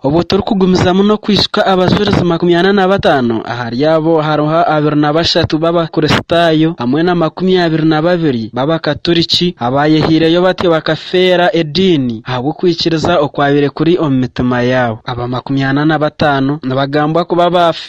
Obwo turikugumizamu n'okwijuka Abajurizi makumi ana na bataano, ahari abo hariho abiri na bashatu b'Abakristaayo hamwe na makumi abiri na babiri b'Abakaturiki abaayehaireyo batyo bakafeera ediini ahabw'okwikiriza okwabaire kuri omu mitima yaabo. Aba makumi ana na bataano nibagambwa kuba baafa.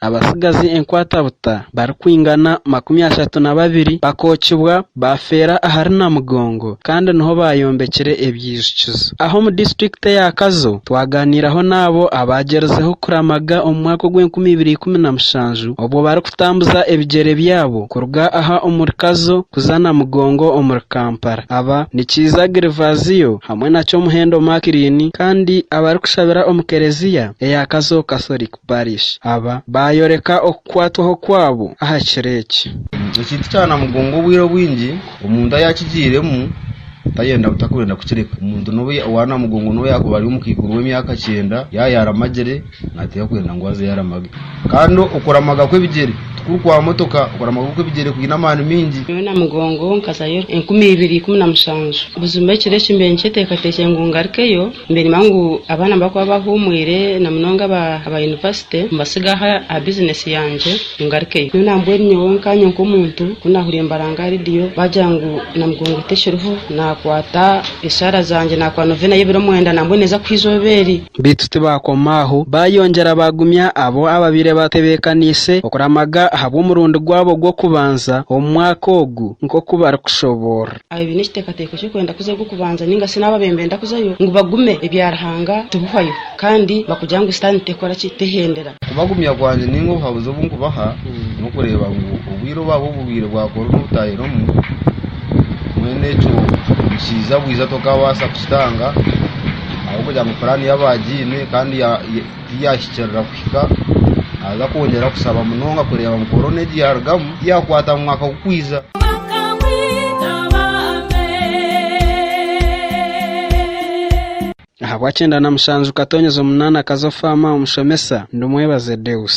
abatsigazi enkwatabuta barikwingana makumi ashatu na babiri bakookibwa baafeera ahari Namugongo kandi niho baayombekire ebyijukizo. Aha omu disiturikiti eya Kazo, twagaaniiraho n'abo abaagyerizeho kuramaga omu mwaka ogw'enkumi ibiri ikumi na mushanju obwo barikutambuza ebigyere byabo kuruga aha omuri Kazo kuza Namugongo omuri Kampala aba Nikiiza Gervasio hamwe na Kyomuhendo Macklin kandi abarikushabira omu Kereziya eya Kazo Catholic Barishi aba baayoreka okukwatwaho kwabo aha kiro eki. Ekintu kya namugongo obwire obwingi omuntu ayakigiiremu tayenda takwenda kukireka. Omuntu n'obu owa namugongo n'obu yaakuba ari omu kaiguru w'emyaka kyenda yaaba yaramagire nateera kwenda ngu azeyo aramage. Kandi okuramaga kw'ebigyere tikuri kwa motoka, okuramaga kw'ebigyere kwine amaani maingi. Nyowe namugongo nkazayo enkumi ibiri ikumi na mushanju. Buzima ekiro eki mbaire nikyeteekateekire ngu ngarikeyo Mbere nimanya ngu abaana nibakuba bahuumwire na munonga aba yunivasite mbatsiga aha bizineesi yangye ngarukeyo. Nyowe nambwenu nyowe nkaanye nk'omuntu ku naahuriire nibaranga rediyo baagira ngu Namugongo tekiriho, naakwata eshaara zangye naakuba noveena y'ebiro omwenda nambwenu neeza kuhwa eizooba eri. Beitu tibaakoma aho, baayongyera baagumya abo abaabaire baatebeekaniise okuramaga ahabw'omurundi gwabo gw'okubanza omu mwaka ogu nk'oku barikushoboorora. abaine ekiteekateeko ky'okwenda kuza ogw'okubanza nainga shi n'abo abaine nibenda kuzayo ngu bagume ebya Ruhanga tibihwayo kandi bakugira ngu Sitaane tekora ki? Tehendera. Okubagumya kwangye nainga obuhabuzi obu nkubaha n'okureeba ngu obwire obwabo obu bwire bwa koroona obutaahiremu, mbwenu ekyo nikiija bwija tokaabaasa kukitanga ahabw'okugira ngu puraani yabo agiine kandi Ku yaahikirira kuhika, naaza kwongyera kushaba munonga kureeba ngu korona egi yaarugamu ti yaakwata omu mwaka gurikwija. Ahabw'akyenda na mushanju Katonyeza omunaana Kazo Faama Omushomesa Ndumwebaze Deus.